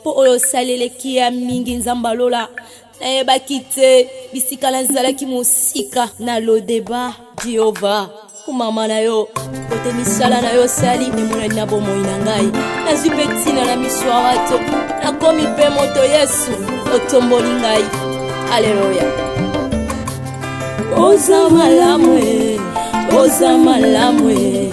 mpo oyo osaleleki ya mingi nzambe alola nayebaki te bisika nazalaki mosika na lodeba jehova kumama na yo kote misala na yo osali emonani na bomoi na ngai nazwi mpe ntina na miso ya bato nakomi mpe moto yesu otomboli ngai aleluya oza malamu e oza malamu e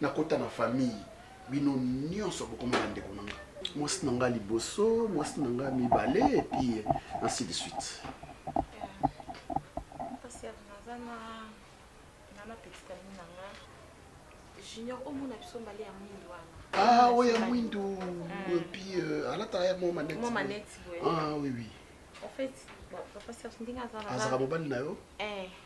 na kota na famille bino nionso bokoma ba ndeko na nga mwasi na nga liboso mwasi na nga mibale et puis ainsi de suite junior omona biso mbale ya mwindu wana ah oyo ya mwindu epi mm. euh, alataka ya mwa maneti mwa maneti boye ah oui oui en fait papa serge ndenge azalaka azalaka mobali na yo eh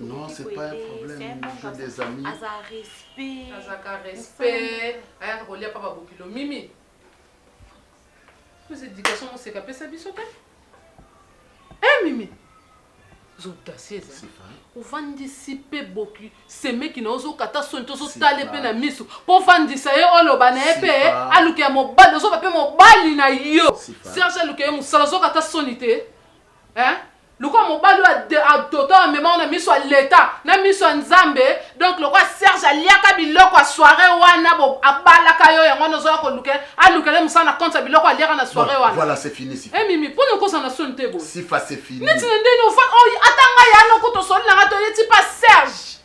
Non, c'est pas un problème. J'ai des amis. Aza respect. Aza ka respect. Aya ko lia papa bokilo mimi. Plus éducation on seka pesa biso te. Eh mimi. zodasieza ovandisi mpe boki semeki na ozokata soni to ozotale mpe na miso mpo ovandisa ye oloba na ye mpe aluka ya mobali ozoba mpe mobali na yo serge aluka ye mosala ozokata soni te Lokola mobali oyo ade adote oyo amema yo na miso ya leta na miso ya nzambe donc lokola serge aliaka biloko ya soiree wana bo abalaka yo yango wana ozoya koluke alukela ye mosala na compte ya biloko aliaka na soiree wana voilà c'est fini sifa eh mimi pona okozala na soni te boye sifa c'est fini neti na ndeni ofa oh, ata ngai yana okuta osoli na ngai to yeti pa serge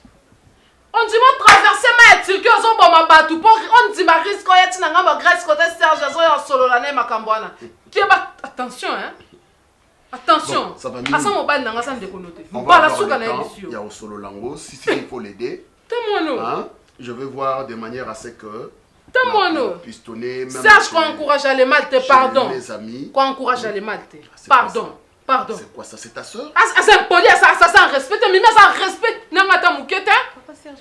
ondima otraverse ma ya turki ozoboma bato mpo ondima riske oya ntina ngambo ya grèce kote serge azoya osolola na ye makambo wana keba attention hein attention asa mobali nanga asa ndeko note mbala suka na yebisi yo ya osolola ngo si si il faut l'aider tamono hein je vais voir de manière à ce que tamono pistonner même Serge qu'on encourage les mal te pardon mes amis qu'on encourage les mal te ah, pardon pardon c'est quoi ça c'est ta sœur asa impoli asa asa sans respect mais asa respect nanga ta mukete papa Serge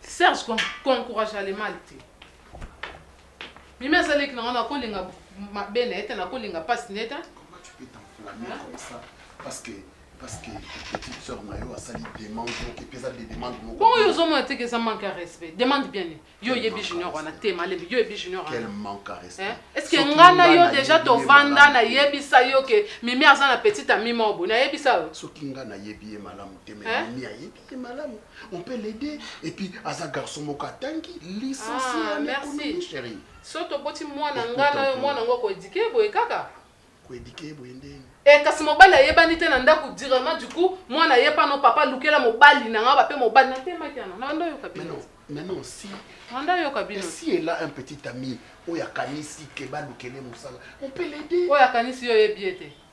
Serge ko encouragea le mal te. Mimi aza leki na nga nakolinga mabe na ye te nakolinga pasi na ye te. Comment tu peux t'enflammer comme ça parce que parce que petite sœur na yo asali demande moko epe eza demande moko Bongo yo ozomona te ke eza manque ya respect. Demande bien nini? Yo oyebi junior wana te malembe. Yo oyebi junior wana. Quel manque à respect. Hein? Est-ce que Soki nga na nga yo nayebi deja ye tovanda malamu te. nayebisa yo ke Mimi aza na petite amie moko boye. Nayebisa yo? Soki nga nayebi ye malamu te mais Hein? Mimi ayebi. te malamu on peut l'aider et puis aza garçon moko atangi licencié ah, en économie chérie so toboti mwana nga na yo mwana yango koedike ye boye kaka koedike ye boye ndeni e eh, kasi mobali ayebani te na ndako directement du coup mwana ye pano papa lukela mobali na nga bape mobali na temaki yana na ndo yoka bino maintenant si anda yoka bino si elle a un petit ami oyo akanisi ke balukele mosala on peut l'aider oyo akanisi yo oyebi ye te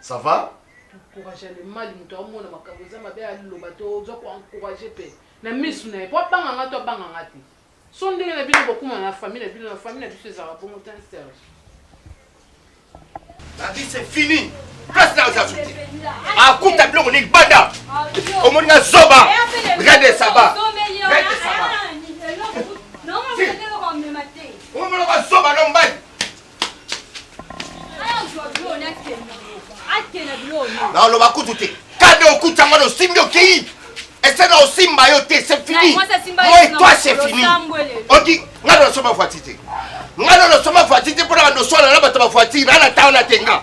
Ça va? Encourage le mal moto amona makambo eza mabe aloba to oza ko encourage pe na misu na ye po abanga nga to abanga nga te so ndenge na bino bokuma na famille na bino na famille na biso ezalaka bongo te Serge La vie c'est fini place na oza suti akuta biloko nini banda omoni nga zoba regarde ça va regarde ça va omoni nga zoba no mbali naoloba kutu te kade okuti yango nosimbi okei esena osimba yo te c'est fini moi toi c'est fini oki nga na nasomba voiture te nga na nasomba voiture te mpo na banoso alala bato ba voiture na na tanga na tenga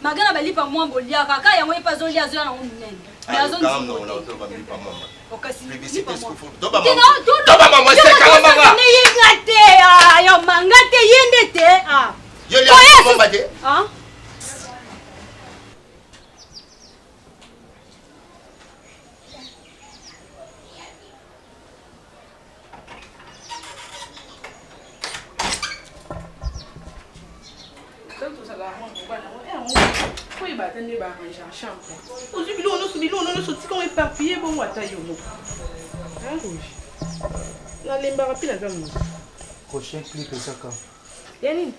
Maga na balipa mwa boliaka kaka yango ye pe azolia azoya nango monene me azondimoteobamosekalamangayeyenga te yo manga te ye nde te nalembaka mpe naza moto prochain clip ezaka ya nini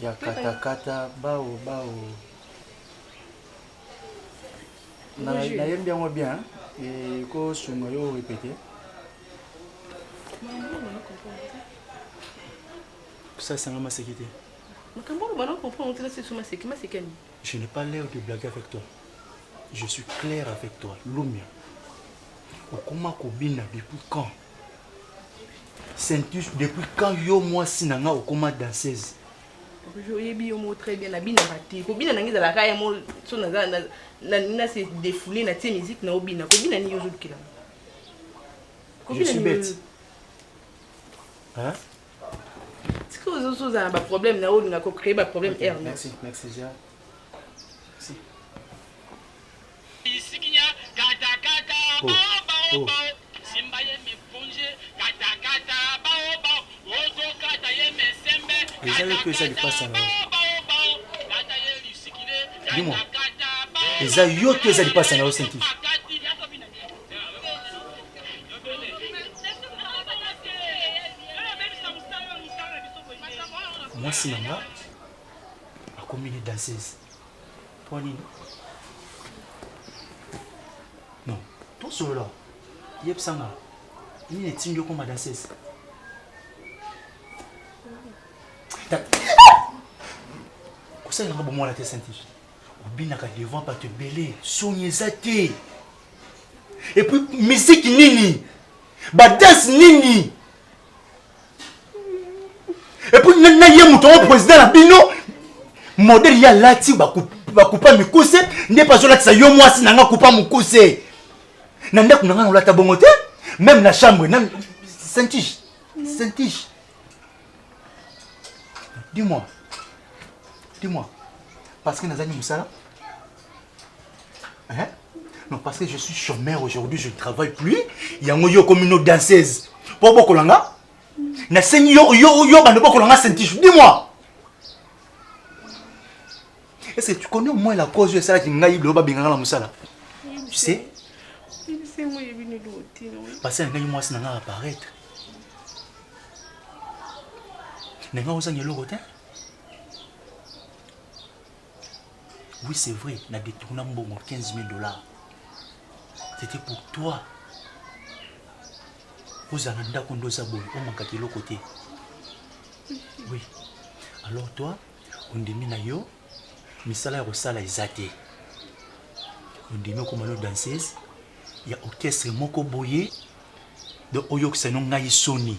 ya katakata bao bao Na Bonjour. na yembi yango bien et ko sunga yo répéter. Ça sanga maseki te. makambo oyo bana comprendre ntela sesu maseki maseki ani Je n'ai pas l'air de blaguer avec toi. Je suis clair avec toi. Lumia. Okoma kobina depuis quand Saintus, depuis quand yo mwasi na nga okoma danseuse oyebi yo moko très bien nabinaka te kobina nange ezalaka ya mo so naza nalingi na se defoule na tie miziki na obina kobina nini ozolukela tika ozosi ozala na baproblème na olinga kocree baproblème r merci ezali mpe eza lipasa na yo dimo eza yo to eza lipasa na yo senti mwasi na nga akomi ni danseuse Mpo nini? Non, tosolola. Yebisa nga nini etindi okoma danseuse? Kosala nanga bomwana te Saint-Tige. Obinaka devant bato ebele, soni eza te. Et puis musique nini? Badanse nini? epuis na ye moto yango président na bino modele ye alati bakupa mikuse nde mpe azolatisa yo mwasi na nga kupa mokuse na ndako na nga nolata bongo te meme na chambre na saintige saintige dis-moi dis-moi parce que nazangi mosala Hein? Non, parce que je suis chômeur aujourd'hui, je ne travaille plus. Yango yo comme une danseuse. Pour beaucoup langa. Na sengi yo yo yo bande beaucoup langa sentiche. Dis-moi. Est-ce que tu connais au moins la cause de ça qui ngai lo ba benganga la musala? Tu sais? C'est moi je venu l'autre. Parce que ngai moi c'est nanga apparaître. Nanga osangi eloko te? Oui, c'est vrai, na détourna mbongo 15 000 dollars. C'était pour toi. ozala ndako nde oza boye omankaka eloko te oui alors toi ondimi na yo misala ya kosala eza te ondimi okoma no danseuse ya orchestre moko boye do oyokisa no ngai soni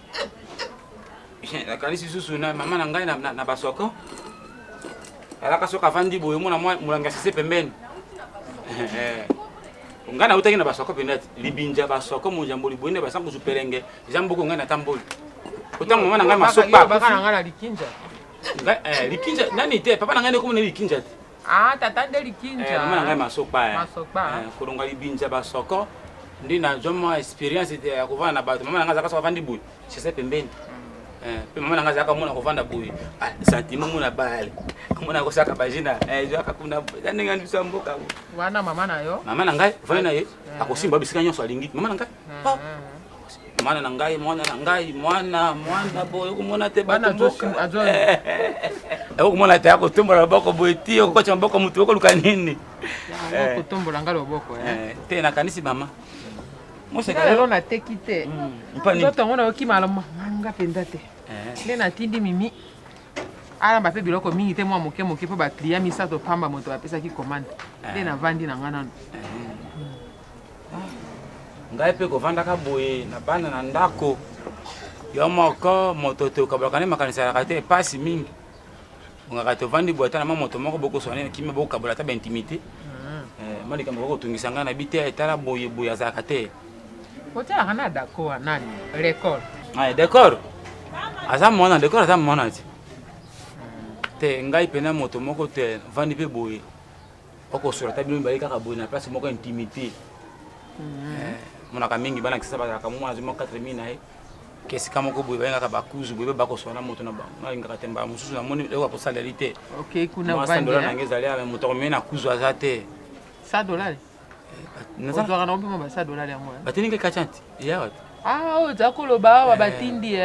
nakanisi susu na mama na ngai na basoko alaka soki avandi boye omona molangi ya sise pembeni eh, ngai nautaki na basoko mpenza libinja basoko monjambo liboye nde basankusu pelenge eza mboko ngai natamboli otango mama na ngai masoko likinja eh, nani te papa na ngai ndekomona likinja te Ah, tata nde likinja. Eh, mama na ngai masopa. Eh. Masopa. Eh, kolonga libinja ba soko. Ndi na joma experience ya eh, kovana na bato. Mama na ngai azaka so avandi boye. Sese pembeni. Mm. Eh, pe mama na ngai azaka mona kovanda boye. Ah, sentiment mona bale. Mona ko saka bajina. Eh, jo akakunda. Ndenge ndi biso mboka. Wana mama na yo. Mama na ngai, vana na ye. Akosimba bisika nyonso alingi. Mama na ngai. mwana na ngai mwana na ngai mwana mwana boye okomona te okomona eh, te akotombola loboko boye ti okokotya maboko motu okoluka nini eh. kotombola ngai loboko eh. te nakanisi mama mosekalelo nateki te mm, nzoto yango nayokimala manga mpenza te nde natindi mimi alamba mpe biloko mingi te mwa moke moke mpo bakliya misato pamba moto bapesaki komande nde navandi na ngai nano ngai mpe kovandaka boye na bana na ndako yo moko moto tokabolaka nde makanisi alaka te mpasi mingi ongaka tovandi boye ata na mwa moto moko bokoswa nde kimia bokabola ata baintimité hmm. eh, mwa likambo kokotungisa ngai na bi te etala boye boye azalaka te otyaka na dako wa nani recor eh, decor aza mwana decor aza mwana te te ngai mpena moto moko te vandi mpe boye okosola ata bino mibale kaka boye na place moko intimité mhm. eh, monaka mingi bana kisa bazalaka mwa azwi mwa 4 mi na ye kesika moko boye bayengaka bakuzu boye bakosola na moto na bango nalingaka te mbala mosusu namoni eloko ya kosaleli te sandola nange ezali ame moto akomei na kuzu aza te sa dolari eh, ozwaka nango mpema basa dolari yango eh? batelinga kachanti eyawa te ah, oyo oza koloba awa batindi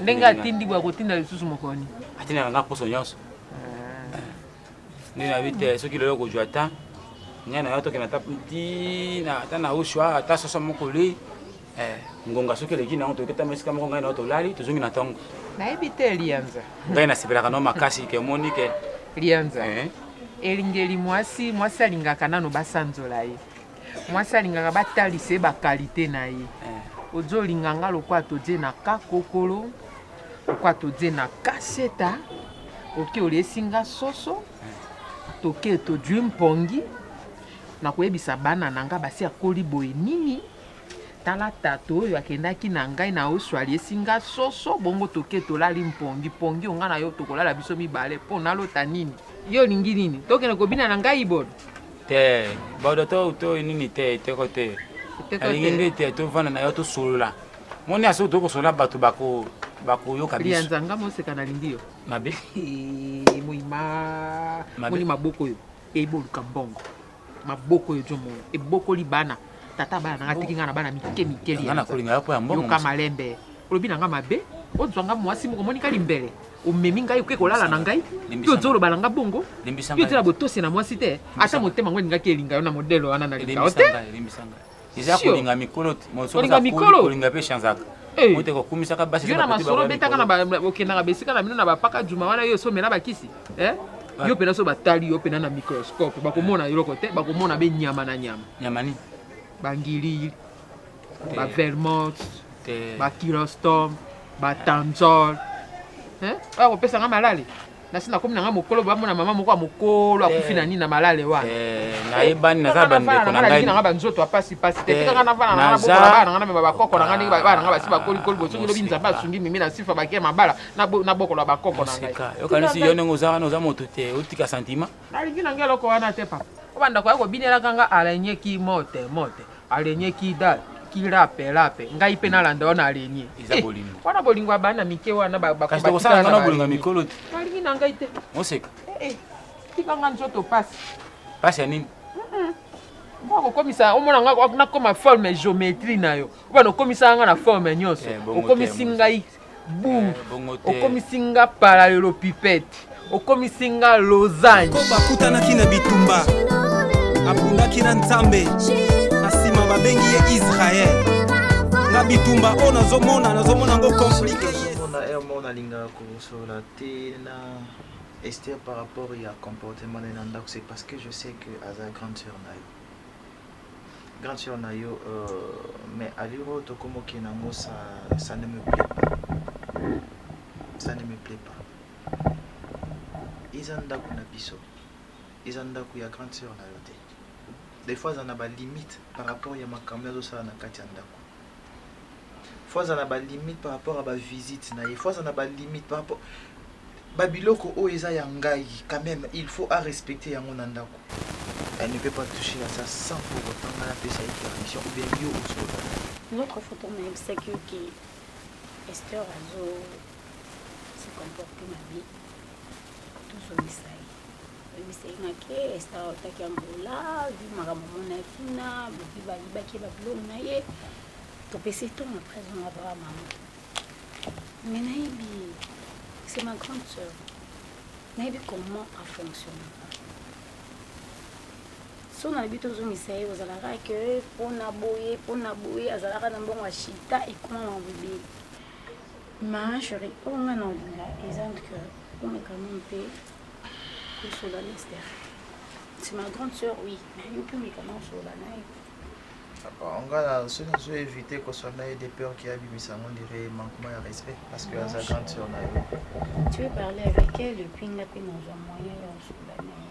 ndenge atindi boye akotinda lisusu mokoni atindaka nga poso nyonso nde nayebi te soki lelo kozwa ta ngai na yo tokenda ata ntina ata na uswa ata soso mokoli eh, ngonga soki eleki nango toyoki ata esika moko ngai na yo tolali tozongi na ntongo nayebi te lianza ngai nasepelaka no makasi ke omoni ke lianza eh? elingeli mwasi mwasi alingaka nano basanzola ye mwasi alingaka batalisa ye bakalite na ye eh. ozo olinga nga lokola todie na kakokolo lokola todie na kaseta oke oliesi nga soso eh. toke todwi mpongi nakoyebisa bana na nga basi akoli boye nini tala tato oyo akendaki na ngai na oso aliesi nga soso bongo toke tolali mpongi mpongi onga na yo tokolala biso mibale mpo nalota nini yo olingi nini tokende kobina na ngai ibolo te bauda to to nini te eteko te alingi nde te tovanda na yo tosolola moni ya soki tokosolola bato bakoyoka bisanzanga moseka nalingi yo mabe moima moni maboko oyo eiboluka mbongo maboko oyo jomono ebokoli bana tata bana nanga tiki ngai na bana mike mike liyoka malembe Olobi na nga mabe, ozwa nga muasi moko omoni ka limbele, omemi ngai oke kolala na ngai, mpe ozoloba na nga bongo, mpe ozela botosi na mwasi te, ata motema yango elingaki elinga yo na modele wana na linga yo te. Eza kolinga mikolo te, kolinga mikolo, kolinga mpe chanzaka. Eh. ote kokumisaka basi yo na masolo obetaka na okendaka besika na bino na bapaka juma wana yo osomela bakisi eh? ah. yo mpena so batali yo mpena na microscope bakomona eh. eloko te bakomona be nyama na nyama nyama nini bangilili ba vermont ba kirostom ba tanzol eh, oya kopesa nga malale nasi nakomi nanga mokolo bamona mama moko ya mokolo akufi na nini na malale wana eh, nayebani naza bandeko na ngai nanga banzoto ya pasi pasi te tika nga navana nanga bokola bana nanga na mema bakoko nanga ndenge bana nanga basi bakolikoli bosoki lobi nzambe asungi mimi na sifa bakia mabala nabokola bakoko na ngai yokanisi yo ndenge oza wana oza moto te otika sentiment Nalingi na nga eloko wana te papa. Obanda koya kobinelaka nga arenye ki mote mote arenye ki dal ki lape lape ngai mpe nalanda wana arenye eza eh, bolingo wana bolingo ya bana mike wana kasi tokosala nga na bolingo ya mikolo te nalingi na ngai te moseka eh, eh, tika nga nzoto pasi pasi ya nini okokomisa omona nga nakoma forme geometrie na yo obana okomisaka nga na forme nyonso okomisi ngai Boum okomisi nga paralelopipete okomisi nga losange bakutanaki na bitumba abundaki na nzambe na nsima babengi ye israel na bitumba oyo nazomona nazomona yango komplike na heure moko nalingaka kosolola te na ester par rapport ya comportement na ye na ndako c'est parce que je sais que aza grande sœur na yo Grande sœur na yo euh, mais allure oyo tokomi okende yango ça, ça ne me plaît pas ça ne me plaît pas eza ndako na biso eza ndako ya grande sœur na yo te des fois aza na balimite par rapport ya makambo azosala na kati ya ndako faut azala na ba limite par rapport ya ba visite na ye faut azala na ba limite par rapport ba biloko oyo eza ya ngai quand même il faut a respecter yango na ndako elle ne peut pas toucher à ça sans pour autant nga napesa ye permission ou bien yo ozola notre photo nayebisaki yo ke ester azo se comporte mabe tozongisa ye ebisengaki esta otaki angola vi makambo mona ye kuna bovi bayibaki ye babiloko na ye topesi ntongo après zonga baa mama me nayebi ye c'est ma grande sœur nayebi comment afonctionnaka so nayebi tozongisa ye ozalaka ke mpona boye mpona boye azalaka na mbongo ya shita ekoma mabobeli Ma cherie, oyo nga na olinga eza ndike omeka no mpe kosola Lester. C'est ma grande sœur, oui, mais yo mpe omeka na osola na ye. Bon, nga na soki nazo éviter kosola na ye de peur ki abimisa ngo ndire manquement ya respect parce que aza grande sœur na yo. Tu veux parler avec elle et puis nga mpe nazwa moyen ya osola na ye.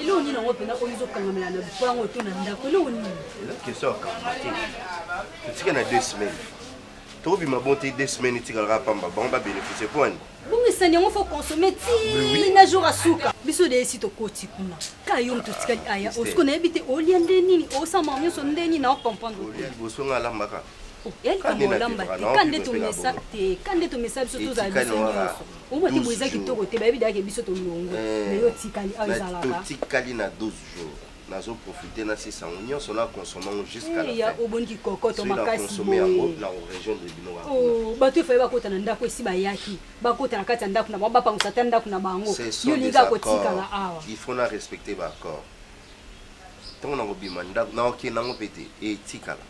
eloko nini yango mpena oyo ezokangamela na lupango to na ndako eloko nini eza question ya kamba te totika na deux semaines tokobima bon te deux semaines etikalaka pamba bango babénéficie mpo ani bongisani yango fo consomme ti na jour asuka biso de esi tokoti kuna ka yo moto otikali aya osiko nayebi te olia nde nini osama nyonso nde nini na ocomprendre liboso nga alambaka totikali na 12 jours nazo profite nasisa yango nyonso na consomma yango jusqu'aobonikokotomakasisoki yango na region de bino oh, bato efai bakota na ndako esi bayaki bakota na kati ya ndako na bango bapangusa ata ndako na bango yo linga kotikala awa il faut na respecte baaccord ntango nakobima ndako nakokende yango mpe te etikala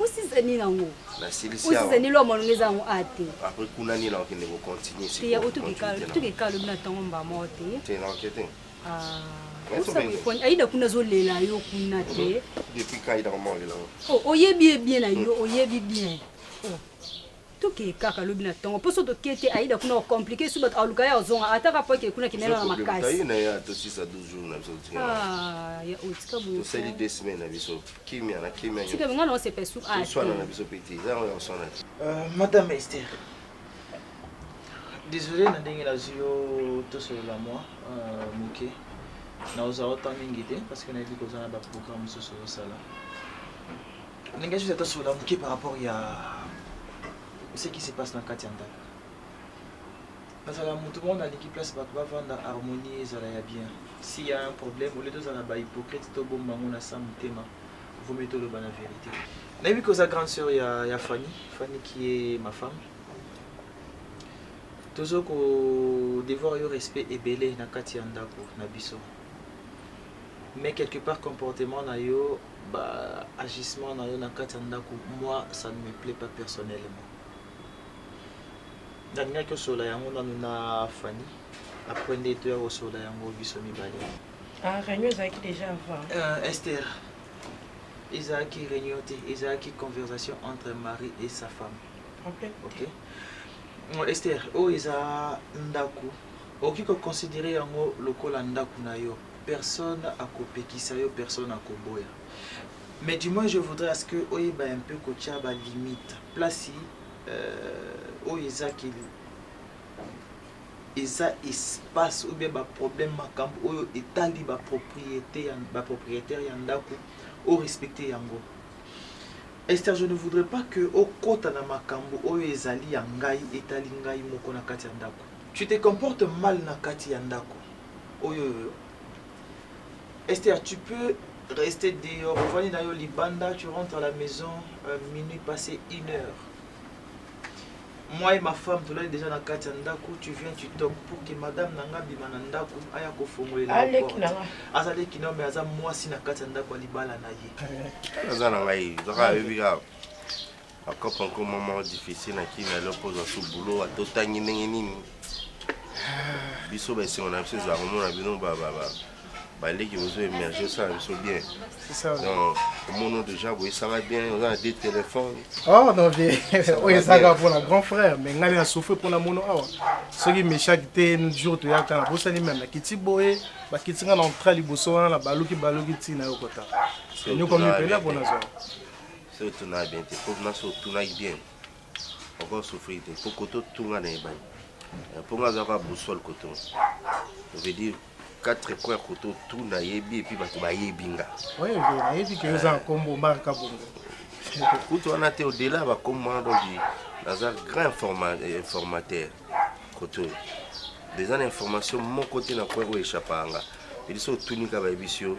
Osisa nini yango? Nasilisi awa. Osisa nini lo amalonga eza yango a te. Après kuna nini na okende ko continuer siko. Te ya otukika otukika lobi na tongo mba mo te. Te na okete. Ah. aida kuna azolela yo kuna te oh, oyebi ye bien na yo oyebi bien oh. tokeye kaka lobi na tongo mposo toke te aida kuna okomplike su bato aluka ye ozonga ata kaka mpo eke kuna kimela na makasi na ye atosisa 12 jours na biso tika ah, ya otika boye tosali 2 semaines na biso kimia na kimia tika benga na osepa su a toswana na biso pete eza yango ya koswana te euh, madame Esther désolé na ndenge nazwi yo tosolola mwa euh, moke na ozala otan mingi te parce que nayebi kozala baprogramme mosusu osala ndenge soki ata solola moke par rapport ya ce qui se passe na kati ya ndako nazala moto moko nalingi place bato bavanda harmonie ezala ya bien si ya un problème olie tozala bahypocrite tobomba yango na sa motema vomi toloba na vérité nayebi ke oza grande sœur ya, ya fanny fanny qui est ma femme tozo ko devoir yo respect ebele na kati ya ndako na biso mais quelque part comportement na yo Ba agissements na yo na kati ya ndaku moi ça ne me plait pas personnellement. Na lingaki osolola yango nanu na Fanny après nde toya ko solola yango biso mibale. Ah reunion ezalaki dejà avant. Euh Esther ezalaki reunion te ezalaki conversation entre mari et sa femme. Problème te. Okay? Euh, Esther oyo eza ndaku okoki ko considerer yango lokola ndaku na yo. Personne akopekisa yo personne akoboya mais du moins je voudrais à ce que oyeba un peu kotia ba limite place oyo eza ke eza espace ou bien ba problème makambo oyo etali ba propriété ya ba propriétaire ya ndako o respecter yango Esther je ne voudrais pas que okota na makambo oyo ezali ya ngai etali ngai moko na kati ya ndako tu te comportes mal na kati ya ndako Oyo yo. Esther tu peux rester dehors ovandi na yo libanda tu rentres à la maison euh, minuit passé une heure moi et ma femme tolali déjà na kati ya ndako tu viens tu toques pour que madame na nga abima na ndako aya kofongolela aleki na nga aza leki na yo mais aza mwasi na kati ya ndako ya libala na ye aza na ngai zaka ayebi kaka Ba cop encore maman difficile na kin alors pose à sous boulot à totangi ndenge nini biso ba esengo na biso ezala komona bino ba ba ba baleki bozo emerge osala biso bien donc omono déjà boyesanga bien oza na de téléphone oh non vie oyo ezaka mpona grand frère mais ngai na souffre mpona mono awa soki mechaki te jour toyaka na bosani meme nakiti boye bakiti ngai na entra liboso wana na baluki baluki ntina yo kota nyoko mipela mpona zwa soki otunaka bien te po na soki otunaki bien oko souffrir te po koto tunga na ebani eh, po nga azalaka boussole koto veut dire quatre coin koto tu nayebi epuis bato bayebi nga nayebi ke oza nkombo eh. marka bongo kutu wana te odela bakombo wana donc naza grand eh, informateur koto oyo eza na information moko te na coin oyo echapaka nga edi soki otunika bayebisi yo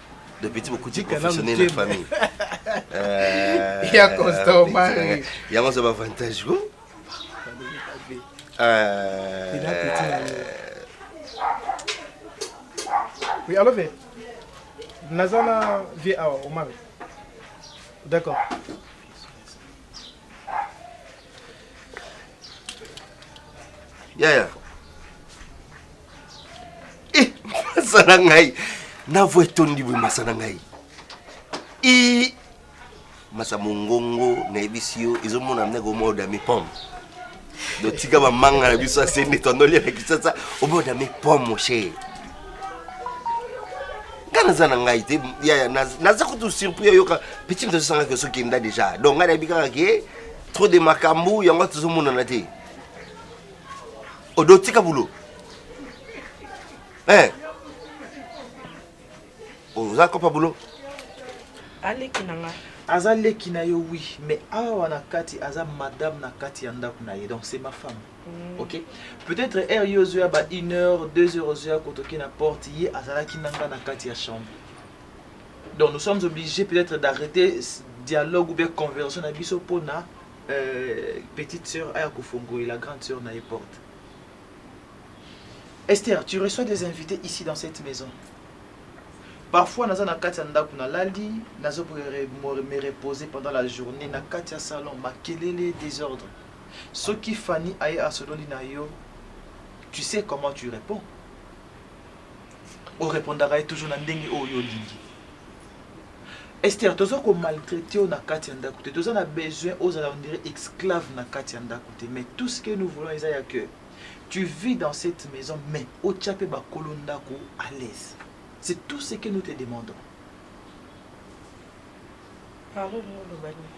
le petit bokuti professionnel na famille euh, ya costa omari yango aza bavantage ko oui alo ve naza na vie awa omari d'accord yaya yeah, yeah. Eh, masa na ngai na voi etondi boye masa na ngai i masa mongongo nayebisi yo ezomona ndenge omoda mipome dotika bamanga na biso asende tondoli na kisasa omoda mipome moshe nga naza na ngai te yaya naza kutu surpris oyoka petit moto azosanga ke soki enda déjà donc ngai nayebi kaka ke trop de makambo yango tozomonana te Odo tika boulot. Eh. Oza kopa boulot. Aleki na nga. Aza leki na yo oui, mais awa na kati aza madame na kati ya ndako na ye. Donc c'est ma femme. Mm. OK. Peut-être er yo zoya ba 1 heure, 2 heures zoya kotoki na porte ye azalaki nanga na kati ya chambre. Donc nous sommes obligés peut-être d'arrêter dialogue ou bien conversation na biso pona petite soeur aya kofongolela grande soeur na ye porte. Esther, tu reçois des invités ici dans cette maison. Parfois naza na kati ya ndako na lali, nazo me reposer pendant la journée na kati ya salon, makelele, désordre. Soki Fanny aye asololi na yo, tu sais comment tu réponds. O répondaka ye toujours na ndenge oyo olingi. Esther toza ko maltraite yo na kati ya ndaku te toza na besoin ozala on dirait exclave na kati ya ndaku te mais tout ce que nous voulons eza ya que tu vis dans cette maison mais otia pe ba kolo ndaku à l'aise c'est tout ce que nous te demandons. Pardon olingi oloba nini?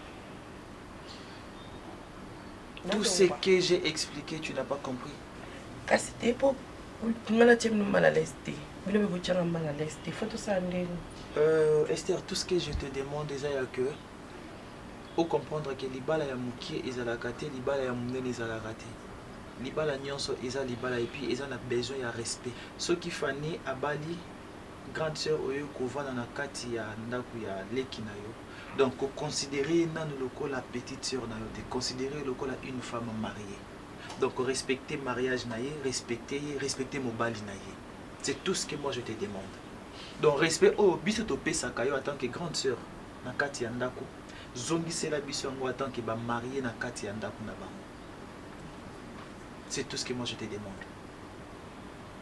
tout ce que j'ai expliqué tu n'as pas compris kasi te po nga natie bino mal à l'aise te bino mpe botyanga mal à l'aise te fo tosala ndenge euh, ester tout ce que je te demande eza ya que ocomprendre ke libala ya mokie ezalaka te libala ya monene ezalaka te libala nyonso eza libala epuis eza na besoin ya respect soki fani abali grande sœur oyo kovanda na kati ya ndako ya leki na yo Donc ko considerer ye nanu lokola petite soeur na yo te, considerer ye lokola une femme mariee. Donc respecter mariage na ye, respecter ye, respecter mobali na ye. C'est tout ce que moi je te demande. Donc respect oyo biso to pesaka yo en tant que grande soeur na kati ya ndaku, zongisela biso yango en tant que ba mariee na kati ya ndaku na bango. C'est tout ce que moi je te demande.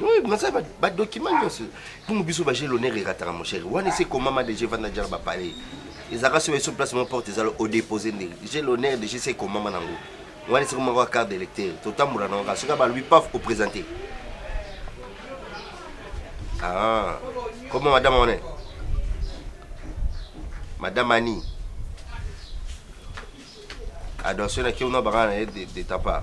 Oui, mais ça, ba document nyonso. Pour biso ba j'ai l'honneur erataka mon cher. Wana c'est comment ma déjà vanda déjà ba parler. Ezaka sur sur place mon porte ezalo au déposer ndenge. J'ai l'honneur de je sais comment ma nango. Wana c'est comment quoi carte d'électeur. Totambola na ngaka. Soka ba lui paf au présenter. Ah. Comment madame on est Madame Annie. Adonso na kiona bangana de de ta part.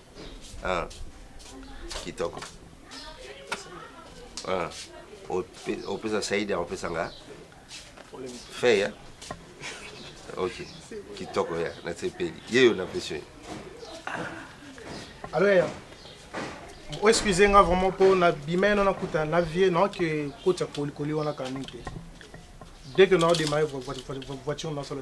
Ah. Kitoko. Ah. Opesa Saida, opesa nga. Fais ya. Ok. Kitoko ya, na tsepeli. Yeyo na pesio. Alors ya. Oh, excusez nga vraiment po na bimeno na kuta na vie non que kota kolikoli wana kanite. Dès que nous avons démarré votre voiture, nous avons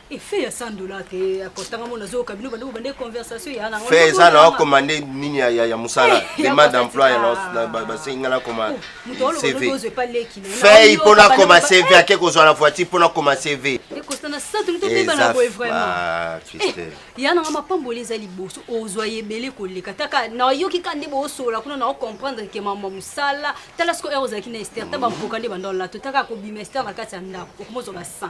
Effet ya 100 dollars te akotanga mona zo kabino bande ko bande conversation ya na ngo. Fait ça là commandé nini ya ya musala eh, demande d'emploi ya na ba singa na commande. Oh, CV. Fait pour na koma CV ake ko zo la voiture pour na koma CV. Et ko sana ça tout le temps na boy vraiment. Ah, triste. Eh, ya na ma pamboli za liboso ozo yebele ko leka taka na yoki kande bo sola kuna na comprendre que maman musala tala ce que eros akina Esther taba mpokande bandol la to taka ko bimester na kati ya ndako okomozo ba 100.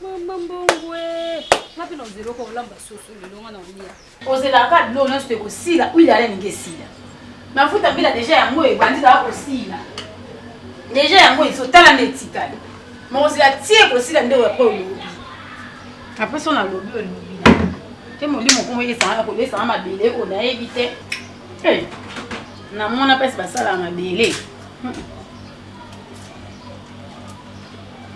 Mama mbongo eh. nga mpe na ozela oka olamba soso lelo nga na olia ozelaka bilo nyonso te kosila huile ala elingi esila mafuta mbila deja yango ebandi kaka kosila deja yango ezotala nde etikali makozela tie kosila nde oyo apres olobi apres so nalobi olobi te molimo kongo esanga kolesanga mabele oyo nayebi te eh, namona mpasi basalaka mabele hmm.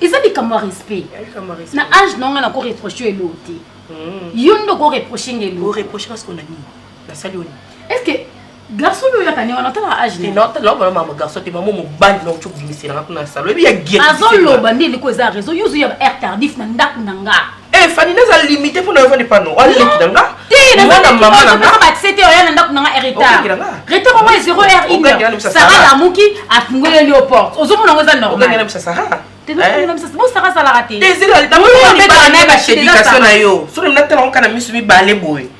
eza likambo ya respect na age na nga nako reproche eloo te hmm. yo nde oko reproche nga eloo estce garçon oyo oyaka nde wana otala agegarçon te mama mobali na ocoki kobimisela nga kuna na salo ebi ya azoloba nde eleko eza raison yo ozwi ya ba air tardif na ndako na nga Eh Fanny naza limité pour na vendre pano. Wa leki na nga. Te na nga mama na nga. Ba tsete oya na ndako na nga retard. Retard moi 0 heure 1. Sarah la muki a fungole yo porte. Ozo mona ngoza normal. Ozo ngana msa Sarah. bosaka azalaka te ezala na yo soki natala onkana misu mibale boye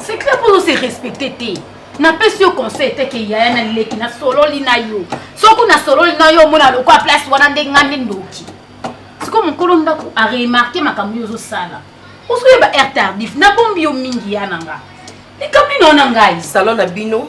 C'est clair pour nous c'est respecter te. napesi yo conseil te ke yaya na leki nasololi na yo soki nasololi na yo omona lokola place wana nde ngai nde ndoki sikoyo mokolo ndako aremarke makambo yo ozosala osoyeba heure tardif nabombi yo mingi ya na nga likambo ino na ngai salo na bino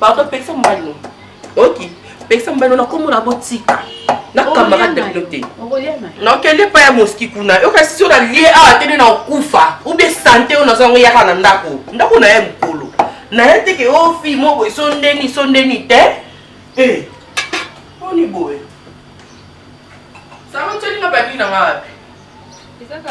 Pardon, pekisa mobali no. Oki, pekisa mobali no na kombo na botika. Na kambaka ndekino te. Na okende pa ya moski kuna. Yo kasi sio na lie awa tene na okufa. Ou bien santé oyo nazo yango yaka na ndako. Ndako na ye mokolo. Na ye teke o oh, fi moko esondeni sondeni te. Eh. Oni boye. Sango tshoni na bandi na ngapi? Ezaka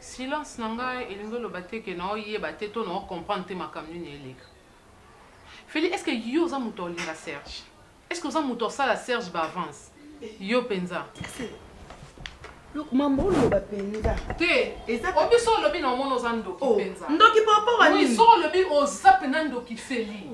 Silence na ngai elingi oloba te que nao yeba te to nao comprendre te makambo nini eleka. Felly est-ce que yo oza mutu aolinga Serge? Est-ce que oza mutu aosala Serge ba avance? Yo penza. Loko mambo oloba penza. Te. Eza obi so olobi na omona oza ndoki penza. Ndoki par rapport à nini? Oui so olobi oza penza ndoki Felly.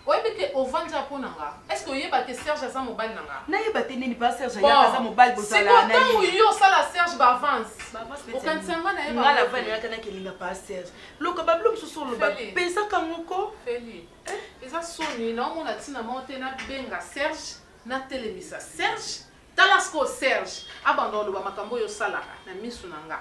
Oyebi ke ovandi awa pona nga? Est-ce que oyeba ke Serge aza mobali na nga? Nayeba te nini papa Serge ayaka aza mobali bozalana naye. Bon sikoyo tangu yo osala Serge ba avances okanisa nga naye ba avances te? Nga nayaka na kelinga papa Serge loka ba bilo mususu oloba peza ka ngo ko. Felly eza soni nao mona tina moko te na benga Serge na telemisa Serge tala sikoyo Serge abanda koloba makambo oyo osalaka na misu na nga.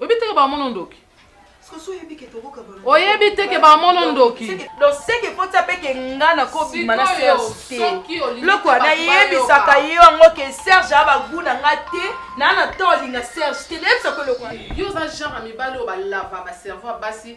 Oyebi te que ba mono ndoki. Oyebi te que ba mono ndoki. Donc c'est que faut ça pe que nga na ko bima na Serge te. Loko na yebisa ka yo ngo que Serge a ba goût na nga te. Na na to linga Serge te. Lebe sa ko loko. Yo za genre mibale o ba lava ba cerveau basi.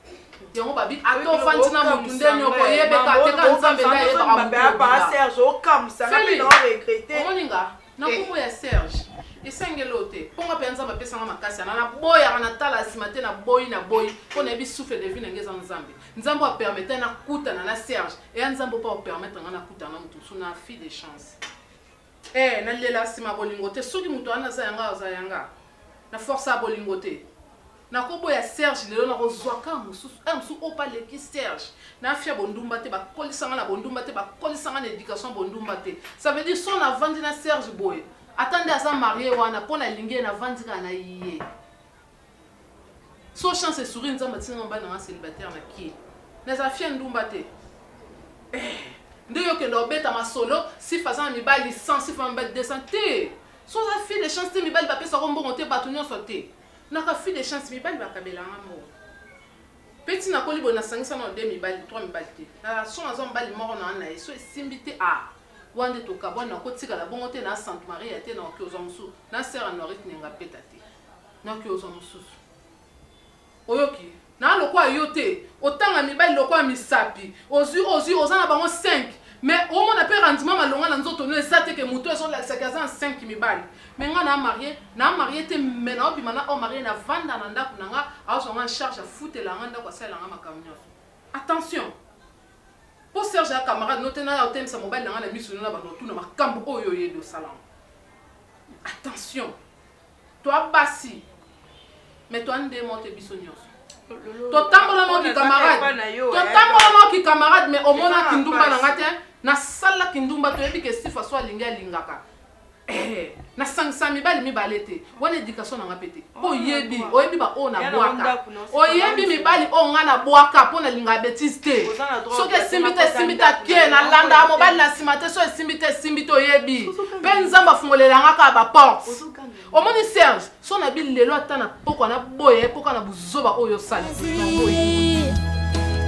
yango babi ata ofandi na motu nde nyoko yebeka te ka nzambe nde ayebaka motuomoninga na kombo ya serge esengeli oyo te mpo nga mpenza nzambe apesanga makasi yana naboyaka natala nsima te naboyi naboyi mpo nayebi souffle de vie na nge eza nzambe nzambe apermete nakutana na serge eya nzambe mpo apermetre nga nakutana na motu mosusu na fille de chance Eh na lela sima bolingo te soki moto wana aza yanga aza yanga na forca bolingo te na ko boya Serge lelo na ko zua ka mosusu eh mosusu oyo pe aleki Serge na afia bondumba te ba kolisa nga na bondumba te ba kolisa nga na education ya bondumba te ça veut dire son na vandi na Serge boye ata nde aza marie wana po na lingi ye na vandi kaka na ye Sans chance et sourire nzambe atinda nga mobali na nga celibataire na kin mais afia ndumba te eh nde yo kenda obeta masolo sifa aza na mibali 100 sifa na mibali 200 te so oza fille de chance te mibali bapesa ko mbongo te bato nyonso te naka fille de chance mibali bakabela nga mbongo mpe ntina akoli boye nasangisa na ode mibali twa mibali te na son aza mobali moko na wana ye so esimbi te a ah, wana nde tokabwani nakotikala bongo te na santu maria te na oki ozwa mosusu na sere anoirite nenga peta te Naoki ozwa mosusu oyoki naa lokola yo te otanga mibali lokola misapi ozwi ozwi oza na bango 5 me omona mpe rendement malonga na nzoto no eza te ke moto ezolakisaki aza na 5 mibali me nga naa marie naa marie te me naobima na o marie na vanda na ndako na nga azwa nga charge afutela nga ndako asalela nga makambo nyonso attention mpo serge ya camarade no te naya otemisa mobali na nga na miso no na bando otuna makambo oyo oyebi osalango attention Toi basi mais toi nde moko te biso nionso totambola nao ki camarade totambola nao ki camarade mais omona kindumba na nga te nasala kindumba toyebi ke sifa so alingi alingaka Eh, nasangisa mibali mibale te wana education na nga mpe te mpo oyebi oyebi baoyo nabwaka oyebi mibali oyo ngai nabwaka mpo nalingaka betise te soki esimbi te esimbi te ake nalandaka mobali na nsima te soki esimbi te esimbi te oyebi mpe nzambe afungolela ngai kaka baporte omoni serge so na bi lelo ata na pokwa na boye ye mpoka na buzoba oyo osala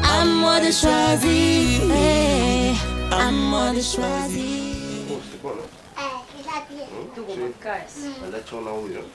À moi de choisir, eh, à moi de choisir. Oh, c'est quoi là? Eh, il a bien. Hein? Tout le monde casse. Elle a tué en haut, là.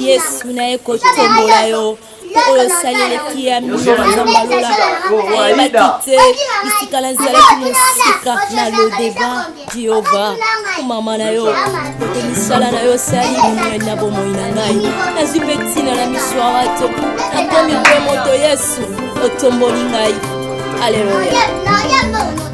yesu na ye kotombola yo mpo oyo osali eleki ya mingi nzambe alola ayebaki te bisika nazalaki mosika na lodeba jehova mama na yo mpe misala na yo osali monene na bomoi na ngai nazwi mpe ntina na miso ya bato nakomi mpe moto yesu otomboli ngai aleluya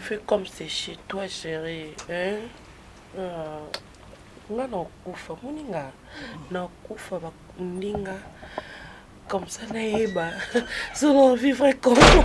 Fais comme c'est chez toi, chérie. Hein? Euh, nga nakufa moni nga nakufa bakundi nga comme ça nayeba solo vivre comment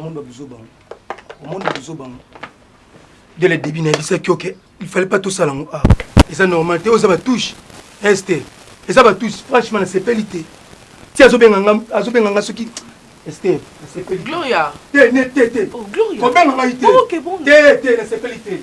omonda buzoba omonda buzoba de la début nayebisaki oke il fallait pas tosala yango awa ah, eza normal te oyo eza batouche este eza batouche franchement nasepeli te ti azobenga nga soki este nasepeli gloria te ne te te oh, kobenga ngai te oh, te te nasepeli te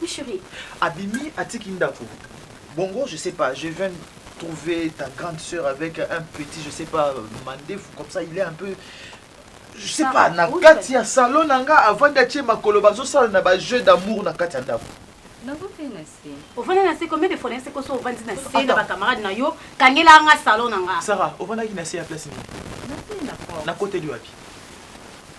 Oui cherie. Abimi atiki ndaku bongo je sais pas je viens trouver ta grande soeur avec un petit je sais pas mandefu comme ça il est un peu je sais pas na kati ya salon na nga avandi atie makolo bazosala na ba jeux d'amour na kati ya ndako ovanda na se combien de fois nayese koso ovandi na se na bacamarade na yo kangela nga salon na nga sara ovandaki na se ya place nini nakoteli wapi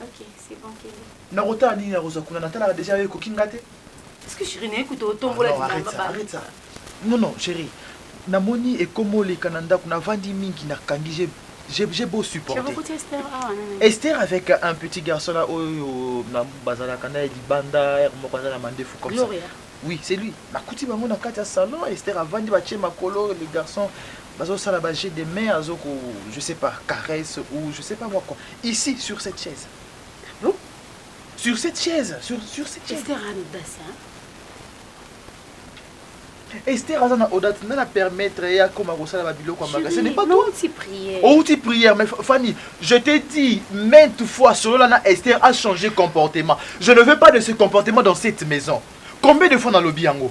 Ok, c'est bon, kende. Nakotala nini nakozwa kuna, natalaka deja yo ekoki nga te. Est-ce que chérie naye kutu otombola Non, arrête ça, arrête ça. Non, non, chérie. Namoni ekoma oleka na ndako, navandi mingi, nakangi, j'ai- j'ai j'ai beau supporter. Chabokuti Esther awa nani? Esther avec un petit garçon là oyo na- bazalaka naye libanda heure moko aza na mandefu comme ça. Gloria. Oui, c'est lui. Nakuti bango na kati ya salon, Esther avandi batie makolo, les garçons bazo sala ba jeux de main azo ko je sais pas caresse ou je sais pas moi quoi ici sur cette chaise non sur cette chaise sur sur cette chaise Esther Anodasi hein Esther aza na odate nana permettre ye akoma kosala babiloko ya maga ce n'est pas toi outi prière mais fanny je t'ai dit maintes fois solola na Esther a changé comportement je ne veux pas de ce comportement dans cette maison combien de fois nalobi yango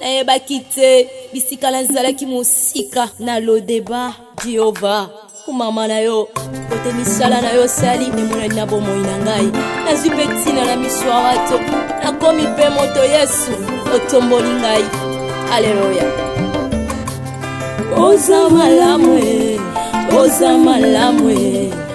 Nayebaki te bisika nazalaki mosika na lodeba Jehova kumama na yo kote misala na yo sali emonani na bomoi na ngai nazwi mpe ntina na miso ya bato nakomi mpe moto yesu otomboli ngai aleluya oza malamu oza malamu